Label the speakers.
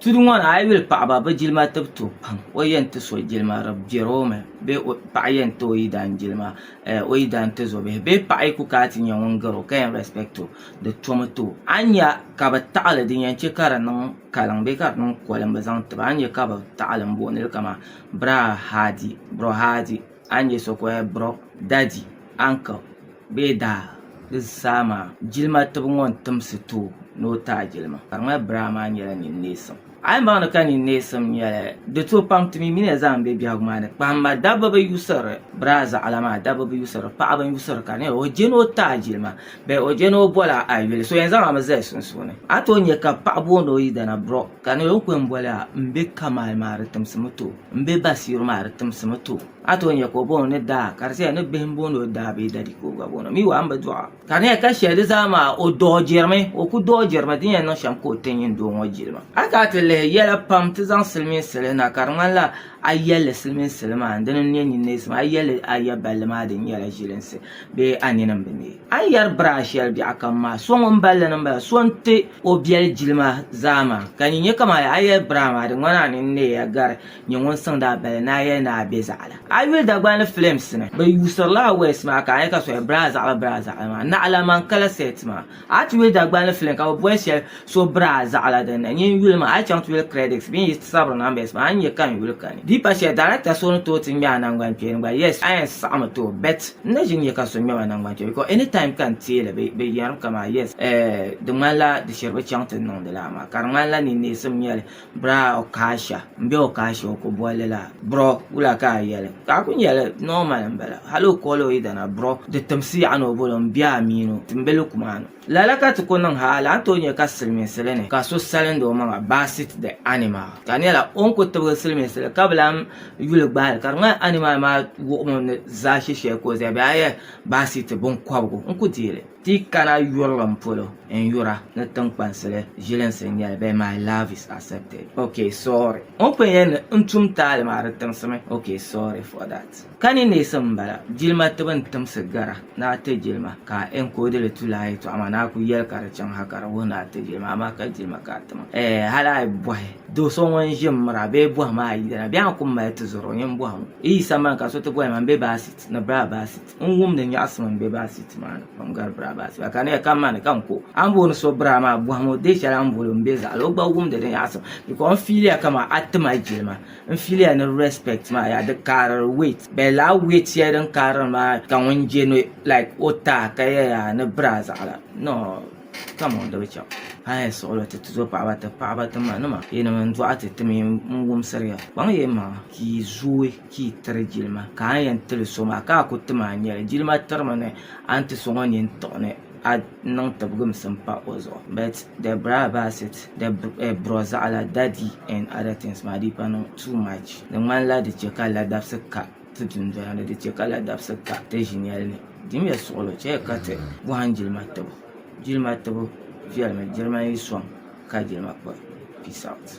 Speaker 1: Tudu ŋɔ ni a yi yuli paɣaba bɛ jilima tibu tooi pam o yɛn ti so jilima di biɛri o mi bee paɣa yɛn ti o yidana jilima o yidana tizubihi bee paɣa yi ku kana ti nyɛ ŋun gari o ka yɛn rɛspɛkti o di tomi ti o a ni nya ka bɛ taɣili din yɛn chɛ ka di niŋ kaliŋ bee ka di niŋ kolim bɛ zaŋ ti ba a ni nya ka bɛ taɣili m-booni li kaman biraahadi brohadi A ni yɛ so ka o yɛn brɔk daddy, uncle bee daa di zaa maa jilima tibu ŋɔ n timsi ti o ni o taai jilima ka di ŋmani biraai maa nyɛla ninneesim. A yi baŋdi ka ninneesim nyɛli di tooi pam ti mi mi ni zaa m-be biɛhigu maa ni kpahim ma dabba bi yuusiri biraai zaɣila maa dabba bi yuusiri paɣaba n-yuusiri ka di nyɛla o je ni o taai jilima. Bɛ o je ni o bol a a yuli, so yɛn zaŋ a mi zali sunsuuni. A tooi nya ka paɣ booni o yidana, Bro, ka ni o ku yɛn boli a, m be Kamal maa di timsi mi too, m be Basiiru maa di timsi mi too. A tooi nya ka o booni o ni Daa, ka di tia ni bihi m-booni o Daa bee Dadi ka o gba booni o mi wa, m bi dɔɣa. Ka di nya ka shɛli di zaa maa o dɔɔjirimi, o ku dɔɔjirimi, din yɛn niŋ shɛm ka o ti nyin doo ŋɔ jilima. A kana ti lihi yɛla pam ti zaŋ silimiinsi li na, ka di ŋmanila a yɛlli silimiinsi li maa n-dini n-nyɛ nyin neesim, a yɛlli a ya balli maa di nyɛla ʒilinsi. bee a nini m-bi neei. A ni yɛri bira shɛli biɛɣukam maa, so ŋun balli ni m-bala, so n-ti o biɛli jilima zaa maa. Ka nyin nyɛ kaman ya, a yɛri bira maa, di ŋmani a nini n-neei ya gari nyɛ ŋun siŋdi a bali ni a yɛli ni a be zaɣila. A yuli Dagbani ni filims ni, bɛ yuusirila a waist maa ka a nya ka so yɛli, Birazaɣili, birazaɣili maa, naɣila man kala set maa. A ti yuli Dagbani film ka bɛ boli shɛli so braa zaɣila din na nyin yuli maa a yi chaŋ ti yuli credits bee n yi sabiri numbers maa a ni nya ka n yuli kani. Di pa shɛli director so ni tooi ti ŋme a nangbankpeeni gba yes a yɛn saɣimi tooi bet n na ʒi n nya ka so ŋmem a nangbankpeeni because anytime ka n teeli bɛ yɛrim ka maa yes eh di ŋmanila di shiri bɛ chaŋ ti niŋdi lala maa ka di ŋmanila ninneesim n nyeli. Biraa Okaasha m be Okaasha o ku bolli la bro wula ka a yeli ka a kuli nyeli normal m bala hal o koli o yidana bro di timsi yaɣa ni o boli o m biɛhi mini o m be lukuma ni lala ka ti kuli niŋ ha a lahi tooi nya ka silimiinsili ni ka so salindi o maŋa basit the animal ka di nyɛla o ni kuli tibigi silimiinsili ka bi lahi yuli gbahili ka di ŋmani animal maa wuhimi ni zaashisheli ka o zaya bee a yɛli basit binkɔbigu n ku deei li. Ti kana yurilim polo n yura ni tiŋkpansili ʒilinsi n nyɛli bee my love is accepted ok sorry o ni pun yɛn ni n tum taali maa di tiŋsimi ok sorry for that Ka ni neesim n bala jilima tibu n timsi gara ni a ti jilima ka a encode li tu lahi yɛltɔɣa maa ni a ku yɛli ka di chaŋ ha ka di wuhi ni a ti jilima amaa ka jilima ka a timaŋ ɛɛ hali a yi bɔhi do so ŋun ʒi n miri a bee bɔhim a yidana bee a ni ku mali tizɔri o nyin bɔhim o yi yi sambani ka so ti bɔhim a ni be baasiit ni baa baasiit N wum ni nyaɣisim n be baa siiti maa ni pam gari braa baa siba ka niya ka mani ka n ko a ni booni so braa maa bɔhim o dee shɛli a ni boli o m be zaɣili o gba wumdi di nyaɣisim bikɔs n fiiliya ka maa a tima jilima n fiiliya ni respect maa yaa di kaariri weight but lala weight shɛli din kaariri maa ka ŋun je ni like o taai ka yɛ yaa ni braa zaɣila noo come on di bi chaŋ a ni yɛn suɣili ti ti zo paɣaba ti paɣaba ti ma nima yinim n dɔɣi ti ti mi n wumsiri ya kpaŋ ya m maŋa ka yi zooi. Ka yi tiri jilima ka a ni yɛn tiri so maa ka a ku tim a nyɛli jilima tirimi ni a ni ti so ŋɔ nini tiɣi ni a niŋ tibiginsim pa o zuɣu but the bra about it the bro zaɣila daddy and other things maa di pa niŋ too much di ŋmanila di chɛ ka ladabisi ka ti dundoli ni di chɛ ka ladabisi ka ti ʒinyɛli ni din nyɛ suɣulo chɛli ka ti bɔhim jilima tibu jilima tibu viɛlimi jilima yi sɔŋ ka jilima kpa peace out.